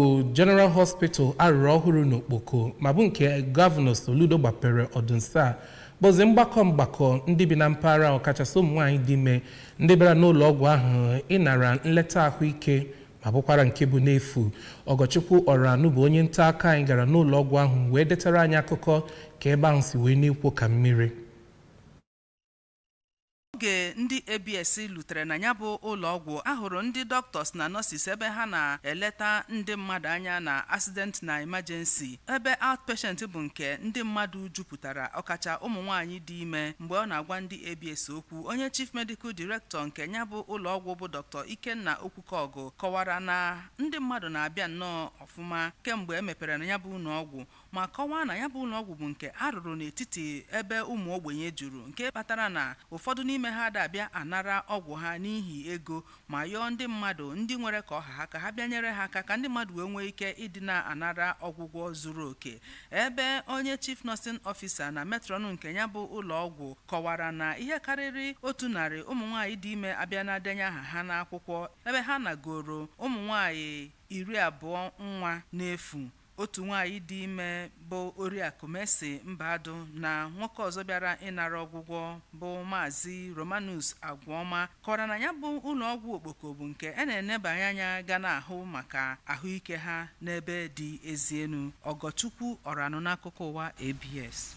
bụ General Hospital a rụrụ ọhụrụ n'Okpoko ma bụ nke Gọvanọ Soludo gbapere ọdị nso a bụzi mgbakọ mgbakọ ndị bi na mpaghara ọkachasị ụmụ nwaanyị dị ime ndị bịara n'ụlọ ọgwụ ahụ ịnara nleta ahụike ma bụkwara nke bụ n'efu Ọgọchukwu Ọranụ bụ onye nta aka anyị gara n'ụlọ ọgwụ ahụ wee detara anyị akụkọ ka ebe ahụ si wee na-ekwo ka mmiri Oge ndị ABS lutere na nya bụ ụlọọgwụ, a hụrụ ndị doctors na nurses ebe ha na-eleta ndị mmadụ anya na accident na emergency, ebe outpatient bụ nke ndị mmadụ jupụtara, ọkacha ụmụ nwaanyị dị ime. Mgbe ọ na-agwa ndị ABS okwu, onye Chief Medical Director nke nya bụ ụlọọgwụ bụ Dr. Ikenna Okwukaọgụ kọwara na ndị mmadụ na-abịa nnọọ ọfụma kemgbe e mepere na nya bụ ụlọọgwụ, ma kọwaa na nya bụ ụlọọgwụ bụ nke a rụrụ n'etiti ebe ụmụ ogbenye juru nke kpatara na ụfọdụ n'ime ha ada abịa anara ọgwụ ha n'ihi ego ma yọọ ndị mmadụ ndị nwere ka ọ ha ha ka ha bịa nyere ha aka ka ndị mmadụ wee nwee ike ịdị na-anara ọgwụgwọ zuru oke ebe onye chief nursing officer na matron nke nya bụ ụlọọgwụ kọwara na ihe karịrị otu narị ụmụ nwaanyị dị ime abịana denye aha ha n'akwụkwọ ebe ha nagoro ụmụ nwaanyị iri abụọ nwa n'efu Otu nwaanyị dị ime bụ Oriakụ Mercy Mbadụ na nwoke ọzọ bịara ịnara ọgwụgwọ bụ Maazị Romanus Agwụọma kọwara na nya bụ ụlọọgwụ Okpoko bụ nke a na-enebanye anya ga na-ahụ maka ahụike ha n'ebe dị ezi enu. Ọgọchukwu Ọranụ n'akụkọ ụwa ABS.